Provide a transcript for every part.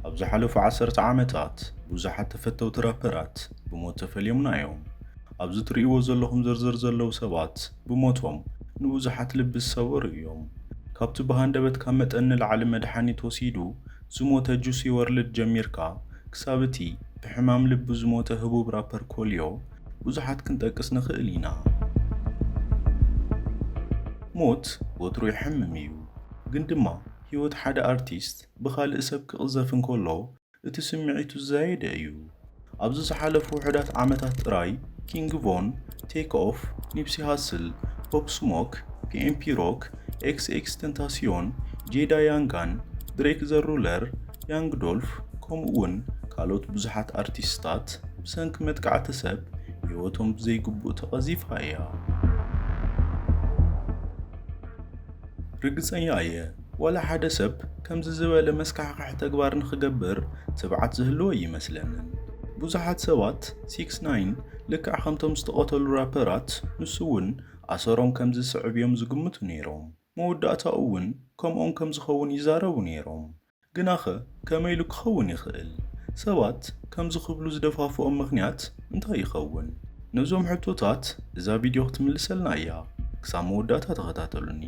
ኣብ ዝሓለፉ ዓሰርተ ዓመታት ብዙሓት ተፈተውቲ ራፐራት ብሞት ተፈልዮምና እዮም። ኣብዚ ትርእይዎ ዘለኹም ዝርዝር ዘለዉ ሰባት ብሞቶም ንብዙሓት ልቢ ዝሰበሩ እዮም። ካብቲ ብሃንደበት ካብ መጠን ንላዕሊ መድሓኒት ወሲዱ ዝሞተ ጁሲ ወርልድ ጀሚርካ ክሳብ እቲ ብሕማም ልቢ ዝሞተ ህቡብ ራፐር ኮልዮ ብዙሓት ክንጠቅስ ንኽእል ኢና። ሞት ወትሩ የሕምም እዩ። ግን ድማ ህይወት ሓደ ኣርቲስት ብኻልእ ሰብ ክቕዘፍ እንከሎ እቲ ስምዒቱ ዝዛየደ እዩ። ኣብዚ ዝሓለፉ ውሑዳት ዓመታት ጥራይ ኪንግ ቮን፣ ቴክ ኦፍ፣ ኒፕሲ ሃስል፣ ፖፕ ስሞክ፣ ፒኤምፒ ሮክ፣ ኤክስኤክስተንታሲዮን፣ ጄዳ ያንጋን፣ ድሬክ ዘ ሩለር፣ ያንግ ዶልፍ ከምኡ'ውን ካልኦት ብዙሓት ኣርቲስትታት ብሰንኪ መጥቃዕቲ ሰብ ህይወቶም ብዘይግቡእ ተቐዚፋ እያ። ርግጸኛ እየ ዋላ ሓደ ሰብ ከምዚ ዝበለ መስካሕኽሒ ተግባር ንኽገብር ትብዓት ዝህልዎ ኣይመስለንን። ብዙሓት ሰባት ሲክስ ናይን ልክዕ ከምቶም ዝተቐተሉ ራፐራት ንሱ'ውን ኣሰሮም ከምዚ ዝስዕብ እዮም ዝግምቱ ነይሮም። መወዳእታኡ'ውን ከምኦም ከም ዝኸውን ይዛረቡ ነይሮም። ግናኸ? ከመይ ኢሉ ክኸውን ይኽእል? ሰባት ከምዚ ክብሉ ዝደፋፍኦም ምኽንያት እንታይ ይኸውን? ነዞም ሕቶታት እዛ ቪድዮ ክትምልሰልና እያ። ክሳብ መወዳእታ ተኸታተሉኒ።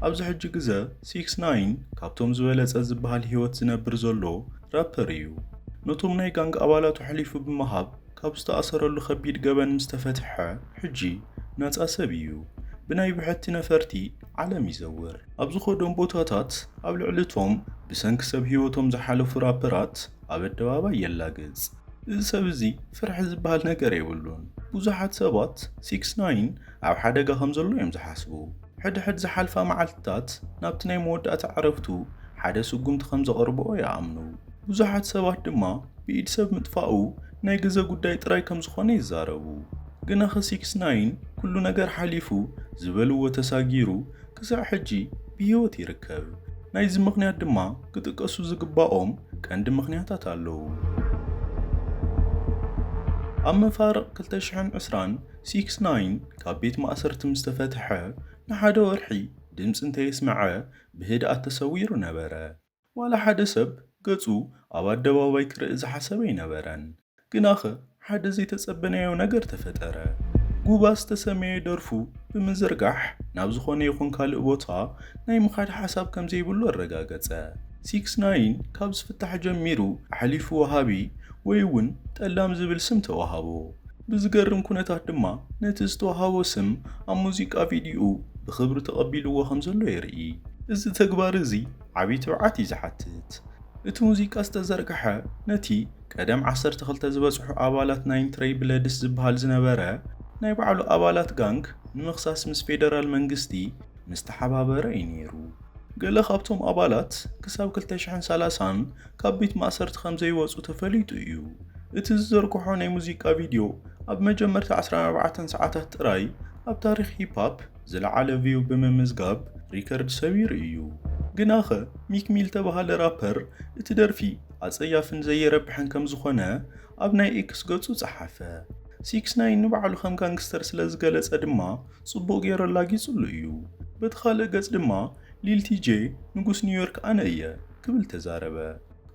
ኣብዚ ሕጂ ግዘ ሲክስ ናይን ካብቶም ዝበለፀ ዝበሃል ህይወት ዝነብር ዘሎ ራፐር እዩ። ነቶም ናይ ጋንግ ኣባላቱ ኣሕሊፉ ብምሃብ ካብ ዝተኣሰረሉ ከቢድ ገበን ምስ ተፈትሐ ሕጂ ናጻ ሰብ እዩ። ብናይ ብሕቲ ነፈርቲ ዓለም ይዘውር። ኣብ ዝኸዶም ቦታታት ኣብ ልዕሊ'ቶም ብሰንኪ ሰብ ህይወቶም ዝሓለፉ ራፐራት ኣብ ኣደባባይ የላግጽ። እዚ ሰብ እዚ ፍርሒ ዝበሃል ነገር የብሉን። ብዙሓት ሰባት ሲክስ ናይን ኣብ ሓደጋ ከም ዘሎ እዮም ዝሓስቡ። ሕድሕድ ዝሓልፋ መዓልትታት ናብቲ ናይ መወዳእታ ዕረፍቱ ሓደ ስጉምቲ ከም ዘቐርብኦ ይኣምኑ። ብዙሓት ሰባት ድማ ብኢድ ሰብ ምጥፋኡ ናይ ግዘ ጉዳይ ጥራይ ከም ዝኾነ ይዛረቡ። ግናኸ ሲክስ ናይን ኩሉ ነገር ሓሊፉ ዝበልዎ ተሳጊሩ ክሳዕ ሕጂ ብህይወት ይርከብ። ናይዚ ምኽንያት ድማ ክጥቀሱ ዝግባኦም ቀንዲ ምኽንያታት ኣለዉ። ኣብ መፋርቕ ክልተ ሽሕን ዕስራን ሲክስ ናይን ካብ ቤት ማእሰርቲ ምስ ተፈትሐ ንሓደ ወርሒ ድምጺ እንተየስምዐ ብህድኣት ተሰዊሩ ነበረ። ዋላ ሓደ ሰብ ገጹ ኣብ ኣደባባይ ክርኢ ዝሓሰበ ኣይነበረን። ግናኸ ሓደ ዘይተጸበናዮ ነገር ተፈጠረ። ጉባ ዝተሰምየ ደርፉ ብምዝርጋሕ ናብ ዝኾነ ይኹን ካልእ ቦታ ናይ ምኻድ ሓሳብ ከም ዘይብሉ ኣረጋገጸ። ሲክስ ናይን ካብ ዝፍታሕ ጀሚሩ ኣሕሊፉ ወሃቢ ወይ'ውን ጠላም ዝብል ስም ተዋሃቦ። ብዝገርም ኩነታት ድማ ነቲ ዝተዋህቦ ስም ኣብ ሙዚቃ ቪድዩኡ ብኽብሪ ተቐቢልዎ ከምዘሎ የርኢ። እዚ ተግባር እዚ ዓቢ ትብዓት እዩ ዝሓትት። እቲ ሙዚቃ ዝተዘርግሐ ነቲ ቀደም ዓሰርተ ክልተ ዝበጽሑ ኣባላት ናይ ትረይ ብለድስ ዝበሃል ዝነበረ ናይ ባዕሉ ኣባላት ጋንግ ንምኽሳስ ምስ ፌደራል መንግስቲ ምስተሓባበረ እዩ ነይሩ። ገለ ካብቶም ኣባላት ክሳብ ክልተ ሽሕን ሰላሳን ካብ ቤት ማእሰርቲ ከም ዘይወጹ ተፈሊጡ እዩ። እቲ ዝዘርግሖ ናይ ሙዚቃ ቪድዮ ኣብ መጀመርታ ዓሰርተ ኣርባዕተ ሰዓታት ጥራይ ኣብ ታሪኽ ሂፕ-ሃፕ ዝለዓለ ቪው ብምምዝጋብ ሪከርድ ሰቢሩ እዩ። ግናኸ ሚክ ሚል እተባህለ ራፐር እቲ ደርፊ ኣጸያፍን ዘየረብሕን ከም ዝዀነ ኣብ ናይ ኤክስ ገጹ ጸሓፈ። ሲክስ ናይን ንባዕሉ ከም ጋንግስተር ስለ ዝገለጸ ድማ ጽቡቕ ገይሩ ኣላጊጹሉ እዩ። በቲ ካልእ ገጽ ድማ ሊልቲ ጄ ንጉስ ኒውዮርክ ኣነ እየ ክብል ተዛረበ።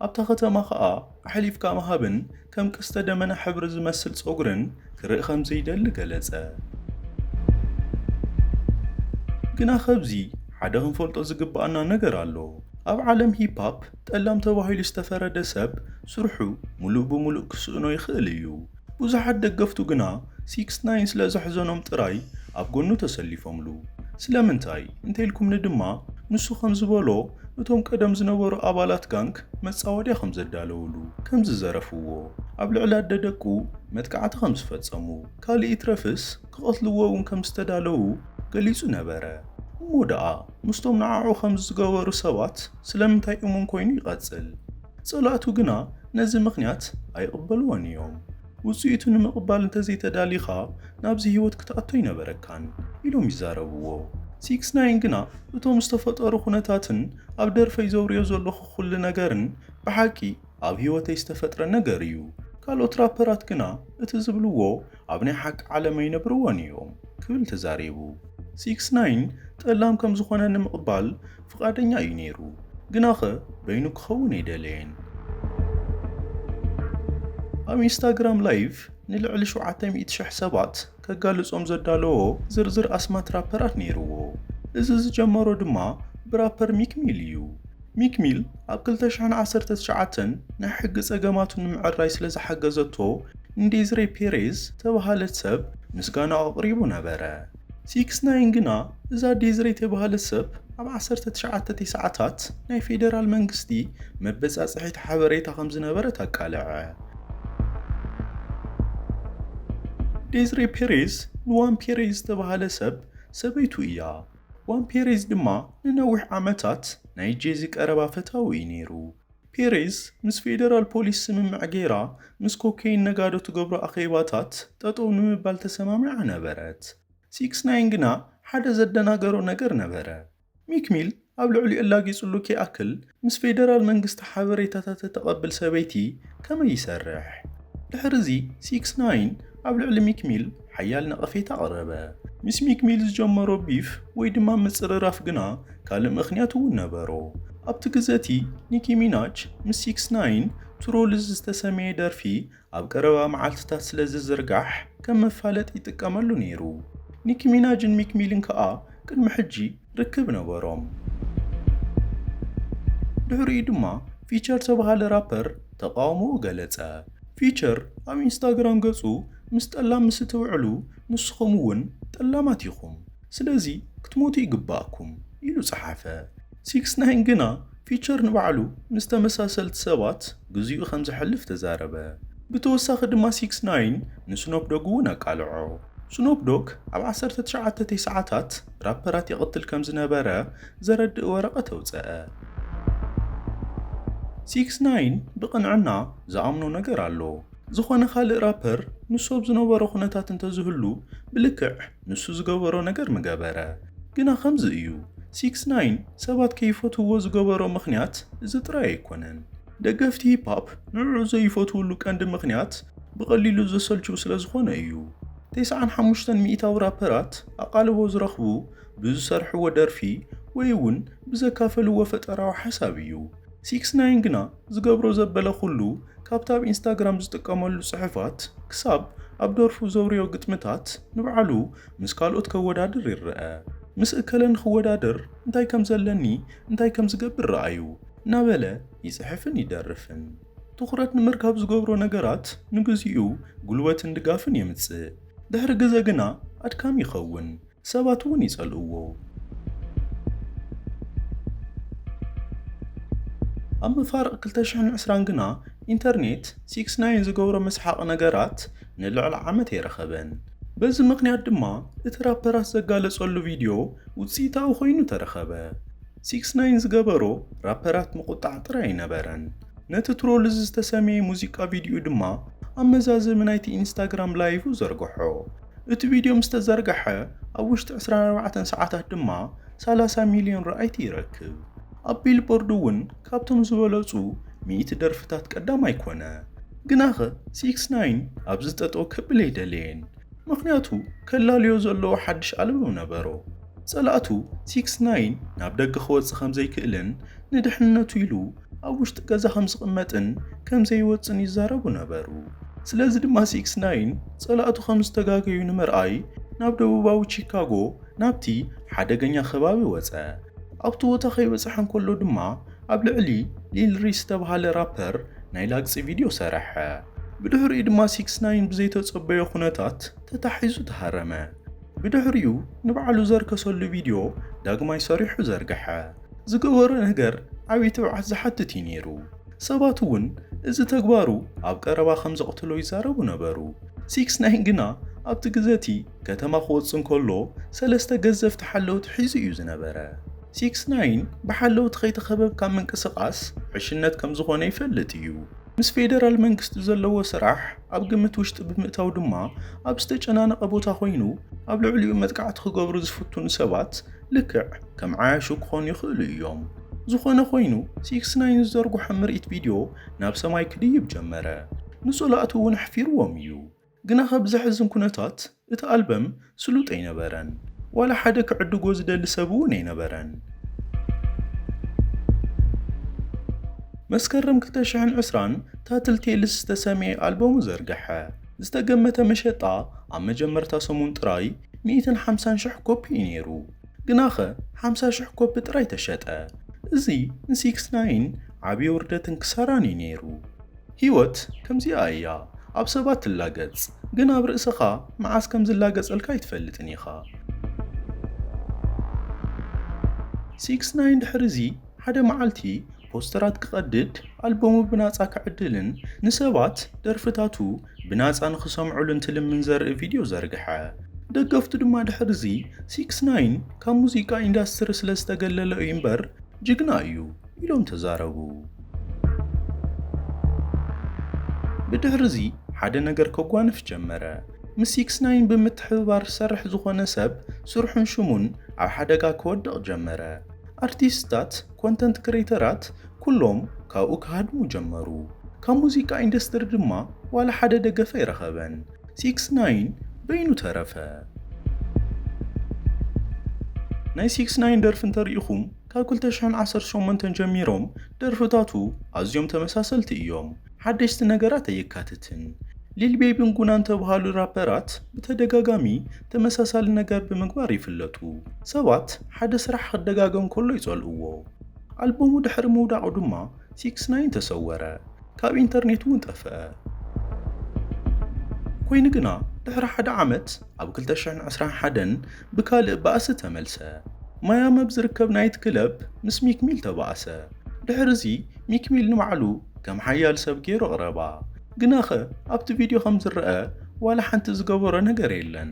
ኣብታ ከተማ ከኣ ኣሕሊፍካ ምሃብን ከም ቀስተ ደመና ሕብሪ ዝመስል ጸጉርን ክርኢ ከም ዘይደሊ ገለጸ። ግና ከብዚ ሓደ ክንፈልጦ ዝግብኣና ነገር ኣሎ። ኣብ ዓለም ሂፕ-ሃፕ ጠላም ተባሂሉ ዝተፈረደ ሰብ ስርሑ ምሉእ ብምሉእ ክስእኖ ይኽእል እዩ። ብዙሓት ደገፍቱ ግና ሲክስ ናይን ስለ ዘሕዘኖም ጥራይ ኣብ ጎኑ ተሰሊፎምሉ። ስለምንታይ እንተኢልኩምኒ ድማ ንሱ ከም ዝበሎ እቶም ቀደም ዝነበሩ ኣባላት ጋንግ መጻወድያ ከም ዘዳለውሉ፣ ከም ዝዘረፍዎ፣ ኣብ ልዕሊ ኣደ ደቁ መጥቃዕቲ ከም ዝፈጸሙ፣ ካልእ ይትረፍስ ክቐትልዎ እውን ከም ዝተዳለዉ ገሊጹ ነበረ። እሞ ደኣ ምስቶም ንዓዑ ከምዚ ዝገበሩ ሰባት ስለምንታይ እሙን ኮይኑ ይቐጽል? ጸላእቱ ግና ነዚ ምኽንያት ኣይቕበልዎን እዮም። ውጽኢቱ ንምቕባል እንተዘይተዳሊኻ ናብዚ ህይወት ክትኣቱ ኣይነበረካን ኢሎም ይዛረብዎ። ሲክስ ናይን ግና እቶም ዝተፈጠሩ ኩነታትን ኣብ ደርፈይ ዘውርዮ ዘለኹ ኩሉ ነገርን ብሓቂ ኣብ ህይወተይ ዝተፈጥረ ነገር እዩ። ካልኦት ራፐራት ግና እቲ ዝብልዎ ኣብ ናይ ሓቂ ዓለም ኣይነብርዎን እዮም ክብል ተዛሪቡ። ሲክስ ናይን ጠላም ከምዝኾነ ንምቕባል ፍቓደኛ እዩ ነይሩ፣ ግናኸ በይኑ ክኸውን ኣይደለየን። ኣብ ኢንስታግራም ላይቭ ንልዕሊ ሸውዓተ ሚእቲ ሽሕ ሰባት ከጋልጾም ዘዳለዎ ዝርዝር ኣስማት ራፐራት ነይርዎ። እዚ ዝጀመሮ ድማ ብራፐር ሚክ ሚል እዩ። ሚክ ሚል ኣብ ክልተ ሽሕን ዓሰርተ ትሽዓተን ናይ ሕጊ ጸገማቱ ንምዕራይ ስለ ዝሓገዘቶ ንዴዝሬ ፔሬዝ ዝተበሃለት ሰብ ምስጋናኡ ኣቕሪቡ ነበረ። ሲክስ ናይን ግና እዛ ዴዝሬ ተብሃለት ሰብ ኣብ ዓሰርተ ትሽዓተ ቴስዓታት ናይ ፌደራል መንግስቲ መበጻጽሒት ሓበሬታ ከም ዝነበረት ኣቃለዐ። ዴዝሬ ፔሬዝ ንዋን ፔሬዝ ዝተብሃለ ሰብ ሰበይቱ እያ። ዋን ፔሬዝ ድማ ንነዊሕ ዓመታት ናይ ጄዚ ቀረባ ፈታዊ እዩ ነይሩ። ፔሬዝ ምስ ፌደራል ፖሊስ ስምምዕ ገይራ ምስ ኮኬይን ነጋዶ ትገብሮ ኣኼባታት ጠጠው ንምባል ተሰማሚዓ ነበረት። ሲክስ ናይን ግና ሓደ ዘደናገሮ ነገር ነበረ። ሚክ ሚል ኣብ ልዕሊኡ ኣላጊጽሉ ከይኣክል ምስ ፌደራል መንግስቲ ሓበሬታታት እተቐብል ሰበይቲ ከመይ ይሰርሕ? ድሕርዚ ሲክስ ናይን ኣብ ልዕሊ ሚክ ሚል ሓያል ነቐፌታ ኣቕረበ። ምስ ሚክ ሚል ዝጀመሮ ቢፍ ወይ ድማ ምጽርራፍ ግና ካልእ ምኽንያት እውን ነበሮ። ኣብቲ ግዘ እቲ ኒኪ ሚናጅ ምስ ሲክስ ናይን ትሩልዝ ዝተሰምየ ደርፊ ኣብ ቀረባ መዓልትታት ስለ ዝዝርጋሕ ከም መፋለጢ ይጥቀመሉ ነይሩ። ኒኪ ሚናጅን ሚክ ሚልን ከኣ ቅድሚ ሕጂ ርክብ ነበሮም። ድሕሪኡ ድማ ፊቸር ዝተበሃለ ራፐር ተቓውሞኡ ገለጸ። ፊቸር ኣብ ኢንስታግራም ገጹ ምስ ጠላም ምስ እትውዕሉ ንስኹም እውን ጠላማት ኢኹም፣ ስለዚ ክትሞቱ ይግብኣኩም ኢሉ ጸሓፈ። ሲክስ ናይን ግና ፊቸር ንባዕሉ ምስ ተመሳሰልቲ ሰባት ግዜኡ ከም ዘሕልፍ ተዛረበ። ብተወሳኺ ድማ ሲክስ ናይን ንስኖፕ ዶግ እውን ኣቃልዖ። ስኖፕ ዶግ ኣብ ዓሰርተ ትሽዓተ ቴስዓታት ራፐራት ይቕትል ከም ዝነበረ ዘረድእ ወረቐት ኣውጸኣ። ሲክስ ናይን ብቕንዕና ዝኣምኖ ነገር ኣሎ። ዝኾነ ካልእ ራፐር ንሱ ኣብ ዝነበሮ ኩነታት እንተዝህሉ ብልክዕ ንሱ ዝገበሮ ነገር ምገበረ ግና ከምዚ እዩ ሲክስ ናይን ሰባት ከይፈትውዎ ዝገበሮ ምኽንያት እዚ ጥራይ ኣይኮነን ደገፍቲ ሂፓፕ ንዕዑ ዘይፈትውሉ ቀንዲ ምኽንያት ብቐሊሉ ዘሰልችው ስለዝኾነ እዩ ቴስዓን ሓሙሽተን ሚኢታዊ ራፐራት ኣቓልቦ ዝረኽቡ ብዝሰርሕዎ ደርፊ ወይ እውን ብዘካፈልዎ ፈጠራዊ ሓሳብ እዩ ሲክስ ናይን ግና ዝገብሮ ዘበለ ኩሉ ካብቲ ኣብ ኢንስታግራም ዝጥቀመሉ ጽሑፋት ክሳብ ኣብ ደርፉ ዘውርዮ ግጥምታት ንባዕሉ ምስ ካልኦት ከወዳድር ይረኣ። ምስ እከለ ንኽወዳደር እንታይ ከም ዘለኒ እንታይ ከም ዝገብር ረኣዩ እናበለ ይጽሕፍን ይደርፍን። ትኹረት ንምርካብ ዝገብሮ ነገራት ንግዚኡ ጉልበትን ድጋፍን የምጽእ። ድሕሪ ግዘ ግና ኣድካሚ ይኸውን። ሰባት እውን ይጸልእዎ። ኣብ መፋርቕ ክልተ ሽሕን ዕስራን ግና ኢንተርኔት ሲክስ ናይን ዝገብሮ መስሓቒ ነገራት ንልዕሊ ዓመት ኣይረኸበን። በዚ ምኽንያት ድማ እቲ ራፐራት ዘጋለጸሉ ቪድዮ ውጽኢታዊ ኮይኑ ተረኸበ። ሲክስ ናይን ዝገበሮ ራፐራት ምቑጣዕ ጥራይ ኣይነበረን። ነቲ ትሮልዝ ዝተሰምየ ሙዚቃ ቪድዩኡ ድማ ኣብ መዛዘሚ ናይቲ ኢንስታግራም ላይቭ ዘርግሖ። እቲ ቪድዮ ምስ ተዘርግሐ ኣብ ውሽጢ ዕስራን ኣርባዕተን ሰዓታት ድማ ሰላሳ ሚልዮን ረኣይቲ ይረክብ። ኣብ ቢልቦርድ እውን ካብቶም ዝበለጹ ሚእቲ ደርፍታት ቀዳማይ ኮነ። ግናኸ ሲክስ ናይን ኣብዚ ጠጠው ከብል ኣይደለየን፣ ምኽንያቱ ከላልዮ ዘለዎ ሓድሽ ኣልበም ነበሮ። ጸላእቱ ሲክስ ናይን ናብ ደገ ክወጽእ ከምዘይክእልን ንድሕንነቱ ኢሉ ኣብ ውሽጢ ገዛ ከም ዝቕመጥን ከም ዘይወጽእን ይዛረቡ ነበሩ። ስለዚ ድማ ሲክስ ናይን ጸላእቱ ከም ዝተጋገዩ ንምርኣይ ናብ ደቡባዊ ቺካጎ ናብቲ ሓደገኛ ከባቢ ወጸ። ኣብቲ ቦታ ከይበጽሐ እንከሎ ድማ ኣብ ልዕሊ ሊል ሪስ ዝተባህለ ራፐር ናይ ላግጺ ቪድዮ ሰርሐ። ብድሕሪኡ ድማ ሲክስ ናይን ብዘይተጸበዮ ኩነታት ተታሒዙ ተሃረመ። ብድሕሪኡ ንባዕሉ ዘርከሰሉ ቪድዮ ዳግማይ ሰሪሑ ዘርግሐ። ዝገበሮ ነገር ዓብዪ ትብዓት ዝሓትት እዩ ነይሩ። ሰባት እውን እዚ ተግባሩ ኣብ ቀረባ ከም ዘቕትሎ ይዛረቡ ነበሩ። ሲክስ ናይን ግና ኣብቲ ግዘ እቲ ከተማ ክወጽእ እንከሎ ሰለስተ ገዘፍቲ ሓለውቲ ሒዙ እዩ ዝነበረ። ሲክስ ናይን ብሓለውቲ ከይተኸበብካ ምንቅስቓስ ዕሽነት ከም ዝኾነ ይፈልጥ እዩ። ምስ ፌደራል መንግስቲ ዘለዎ ስራሕ ኣብ ግምት ውሽጢ ብምእታው ድማ ኣብ ዝተጨናነቐ ቦታ ኮይኑ ኣብ ልዕሊኡ መጥቃዕቲ ክገብሩ ዝፍትኑ ሰባት ልክዕ ከም ዓያሹ ክኾኑ ይኽእሉ እዮም። ዝኾነ ኮይኑ ሲክስ ናይን ዝዘርጉሖ ምርኢት ቪድዮ ናብ ሰማይ ክድይብ ጀመረ። ንፀላእቱ እውን ኣሕፊርዎም እዩ። ግናኸ ብዘሕዝን ኩነታት እቲ ኣልበም ስሉጥ ኣይነበረን፣ ዋላ ሓደ ክዕድጎ ዝደሊ ሰብ እውን ኣይነበረን። መስከረም ክልተ ሽሕን ዕስራን ታትል ቴልስ ዝተሰምየ ኣልበሙ ዘርግሐ። ዝተገመተ መሸጣ ኣብ መጀመርታ ሰሙን ጥራይ ሚእትን ሓምሳን ሽሕ ኮፒ እዩ ነይሩ፣ ግናኸ ሓምሳ ሽሕ ኮፒ ጥራይ ተሸጠ። እዚ ንሲክስ ናይን ዓብዪ ውርደትን ክሳራን እዩ ነይሩ። ህይወት ከምዚኣ እያ ኣብ ሰባት ትላገጽ ግን ኣብ ርእስኻ መዓስ ከም ዝላገጸልካ ኣይትፈልጥን ኢኻ። ሲክስናይን ድሕሪዚ ሓደ መዓልቲ ፖስተራት ክቐድድ ኣልበሙ ብናጻ ክዕድልን ንሰባት ደርፍታቱ ብናጻ ንኽሰምዑሉ እንትልምን ዘርኢ ቪድዮ ዘርግሐ። ደገፍቱ ድማ ድሕሪዚ ሲክስናይን ካብ ሙዚቃ ኢንዳስትሪ ስለዝተገለለ እዩ እምበር ጅግና እዩ ኢሎም ተዛረቡ። ብድሕርዚ ሓደ ነገር ከጓንፍ ጀመረ። ምስ ሲክስ ናይን ብምትሕብባር ዝሰርሕ ዝኾነ ሰብ ስርሑን ሽሙን ኣብ ሓደጋ ክወድቕ ጀመረ። ኣርቲስትታት፣ ኮንተንት ክሬተራት፣ ኩሎም ካብኡ ክሃድሙ ጀመሩ። ካብ ሙዚቃ ኢንዱስትሪ ድማ ዋላ ሓደ ደገፍ ኣይረኸበን። ሲክስ ናይን በይኑ ተረፈ። ናይ ሲክስ ናይን ደርፊ እንተሪኢኹም ካብ ክልተ ሽሕን ዓሰርተ ሸሞንተን ጀሚሮም ደርፍታቱ ኣዝዮም ተመሳሰልቲ እዮም፣ ሓደሽቲ ነገራት ኣየካትትን። ሊል ቤቢን ጉናን እተብሃሉ ራፐራት ብተደጋጋሚ ተመሳሳሊ ነገር ብምግባር ይፍለጡ። ሰባት ሓደ ስራሕ ክደጋገም ከሎ ይጸልእዎ። ኣልበሙ ድሕሪ ምውዳቑ ድማ ሲክስ ናይን ተሰወረ፣ ካብ ኢንተርኔት'ውን ጠፍኣ። ኰይኑ ግና፣ ድሕሪ ሓደ ዓመት ኣብ ክልተ ሽሕን ዕስራን ሓደን ብካልእ ባእሲ ተመልሰ። ማያሚ ኣብ ዝርከብ ናይት ክለብ ምስ ሚክ ሚል ተባእሰ። ድሕርዚ ሚክ ሚል ንባዕሉ ከም ሓያል ሰብ ገይሩ ኣቕረባ። ግናኸ ኣብቲ ቪድዮ ከም ዝረኣ ዋላ ሓንቲ ዝገበሮ ነገር የለን።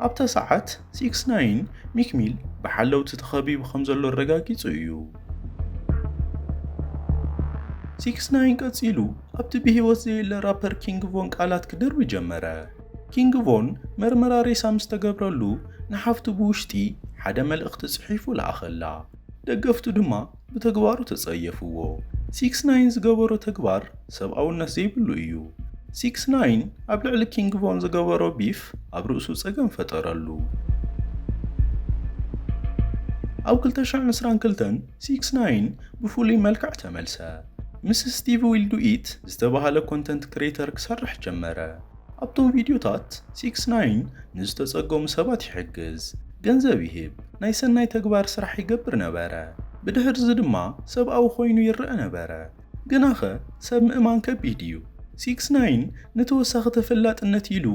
ኣብታ ሰዓት ሲክስ ናይን ሚክ ሚል ብሓለውቲ ተኸቢቡ ከም ዘሎ ኣረጋጊጹ እዩ። ሲክስ ናይን ቀጺሉ ኣብቲ ብህይወት ዘየለ ራፐር ኪንግ ቮን ቃላት ክድርቢ ጀመረ። ኪንግ ቮን መርመራ ሬሳ ምስ ተገብረሉ ንሓፍቱ ብውሽጢ ሓደ መልእኽቲ ጽሒፉ ለኣኸላ። ደገፍቱ ድማ ብተግባሩ ተጸየፍዎ። ሲክስ ናይን ዝገበሮ ተግባር ሰብኣውነት ዘይብሉ እዩ። ሲክስ ናይን ኣብ ልዕሊ ኪንግ ቮን ዝገበሮ ቢፍ ኣብ ርእሱ ጸገም ፈጠረሉ። ኣብ ክልተ ሽሕ ዕስራን ክልተን ሲክስ ናይን ብፍሉይ መልክዕ ተመልሰ። ምስ ስቲቭ ዊልዱኢት ዝተባህለ ኮንተንት ክሬተር ክሰርሕ ጀመረ። ኣብቶም ቪድዮታት ሲክስ ናይን ንዝተጸገሙ ሰባት ይሕግዝ፣ ገንዘብ ይህብ፣ ናይ ሰናይ ተግባር ስራሕ ይገብር ነበረ። ብድሕርዚ ድማ ሰብኣዊ ኰይኑ ይረኣ ነበረ። ግናኸ ሰብ ምእማን ከቢድ እዩ። ሲክስ ናይን ንተወሳኺ ተፈላጥነት ኢሉ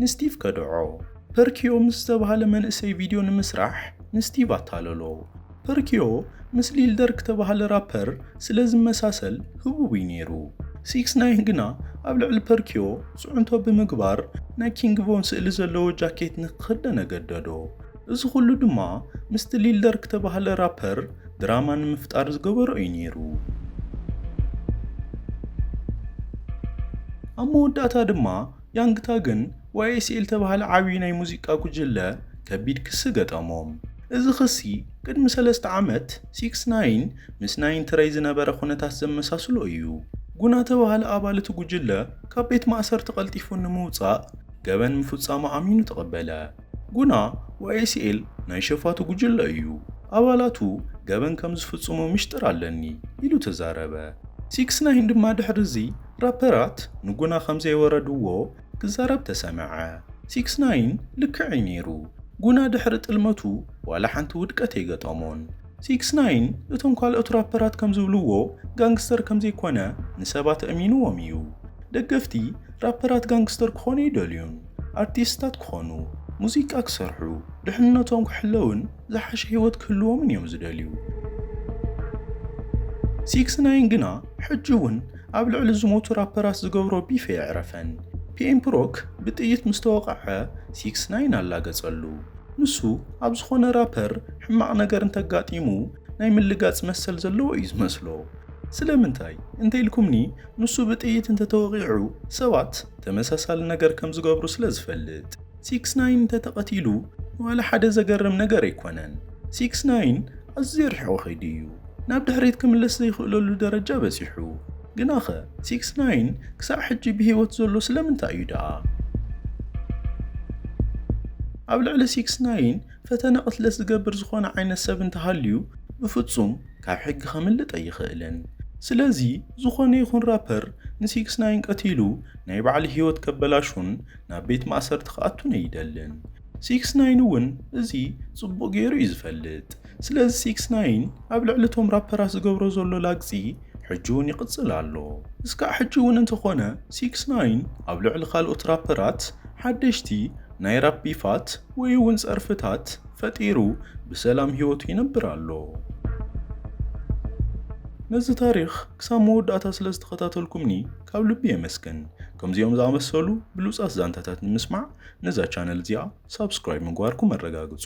ንስቲቭ ከድዖ። ፐርኪዮ ምስ ዝተባህለ መንእሰይ ቪድዮ ንምስራሕ ንስቲቭ ኣታለሎ። ፐርኪዮ ምስ ሊል ደርክ ተባሃለ ራፐር ስለ ዝመሳሰል ህቡብ'ዩ ነይሩ። ሲክስ ናይን ግና ኣብ ልዕሊ ፐርኪዮ ጽዕንቶ ብምግባር ናይ ኪንግ ቮን ስእሊ ዘለዎ ጃኬት ንክኽደነ ገደዶ። እዚ ኹሉ ድማ ምስቲ ሊል ደርክ ተባሃለ ራፐር ድራማ ንምፍጣር ዝገበሮ'ዩ ነይሩ። ኣብ መወዳእታ ድማ ያንግ ታግን ዋይኤስኤል ተባህለ ዓብዪ ናይ ሙዚቃ ጉጅለ ከቢድ ክሲ ገጠሞም። እዚ ክሲ ቅድሚ ሰለስተ ዓመት ሲክስ ናይን ምስ ናይን ትረይ ዝነበረ ኩነታት ዘመሳስሎ እዩ። ጉና ተባህለ ኣባል እቲ ጉጅለ ካብ ቤት ማእሰርቲ ቀልጢፉ ንምውፃእ ገበን ምፍፃሙ ኣሚኑ ተቐበለ። ጉና ዋይኤስኤል ናይ ሸፋቱ ጉጅለ እዩ፣ ኣባላቱ ገበን ከም ዝፍጽሙ ሚሽጥር ኣለኒ ኢሉ ተዛረበ። ሲክስ ናይን ድማ ድሕሪ እዚ ራፐራት ንጉና ከም ዘይወረድዎ ክዛረብ ተሰምዐ። ሲክስ ናይን ልክዕ'ዩ ነይሩ፣ ጉና ድሕሪ ጥልመቱ ዋላ ሓንቲ ውድቀት ኣይገጠሞን። ሲክስ ናይን እቶም ካልኦት ራፐራት ከም ዝብልዎ ጋንግስተር ከም ዘይኮነ ንሰባት ኣእሚንዎም እዩ። ደገፍቲ ራፐራት ጋንግስተር ክኾኑ ኣይደልዩን። ኣርቲስትታት ክኾኑ፣ ሙዚቃ ክሰርሑ፣ ድሕንነቶም ክሕለውን ዝሓሸ ህይወት ክህልዎምን እዮም ዝደልዩ። ሲክስ ናይን ግና ሕጂ እውን ኣብ ልዕሊ ዝሞቱ ራፐራት ዝገብሮ ቢፍ ኣየዕረፈን። ፒኤም ፕሮክ ብጥይት ምስ ተወቕዐ ሲክስ ናይን ኣላገጸሉ። ንሱ ኣብ ዝኾነ ራፐር ሕማቕ ነገር እንተጋጢሙ ናይ ምልጋጽ መሰል ዘለዎ እዩ ዝመስሎ። ስለምንታይ እንተኢልኩምኒ ንሱ ብጥይት እንተተወቒዑ ሰባት ተመሳሳሊ ነገር ከም ዝገብሩ ስለ ዝፈልጥ። ሲክስ ናይን እንተተቐቲሉ ንዋላ ሓደ ዘገርም ነገር ኣይኮነን። ሲክስ ናይን ኣዝዩ ርሒቑ ከይዱ እዩ ናብ ድሕሪት ክምለስ ዘይኽእለሉ ደረጃ በጺሑ። ግናኸ ሲክስ ናይን ክሳዕ ሕጂ ብህይወት ዘሎ ስለምንታይ እዩ ደኣ? ኣብ ልዕሊ ሲክስ ናይን ፈተነ ቅትለት ዝገብር ዝኾነ ዓይነት ሰብ እንተሃልዩ ብፍጹም ካብ ሕጊ ከምልጥ ኣይኽእልን። ስለዚ ዝኾነ ይኹን ራፐር ንሲክስ ናይን ቀቲሉ ናይ ባዕሉ ህይወት ከበላሹን ናብ ቤት ማእሰርቲ ክኣቱን ኣይደልን። ሲክስ ናይን እውን እዚ ጽቡቕ ገይሩ እዩ ዝፈልጥ። ስለዚ ሲክስ ናይን ኣብ ልዕሊ እቶም ራፐራት ዝገብሮ ዘሎ ላግጺ ሕጂ ውን ይቕጽል ኣሎ። እስካዕ ሕጂ ውን እንተኾነ ሲክስ ናይን ኣብ ልዕሊ ካልኦት ራፐራት ሓደሽቲ ናይ ራፕ ቢፋት ወይ ውን ጸርፍታት ፈጢሩ ብሰላም ሂወቱ ይነብር ኣሎ። ነዚ ታሪኽ ክሳብ መወዳእታ ስለ ዝተኸታተልኩምኒ ካብ ልቢ የመስግን። ከምዚኦም ዝኣመሰሉ ብሉጻት ዛንታታት ንምስማዕ ነዛ ቻነል እዚኣ ሳብስክራይብ ምግባርኩም ኣረጋግጹ።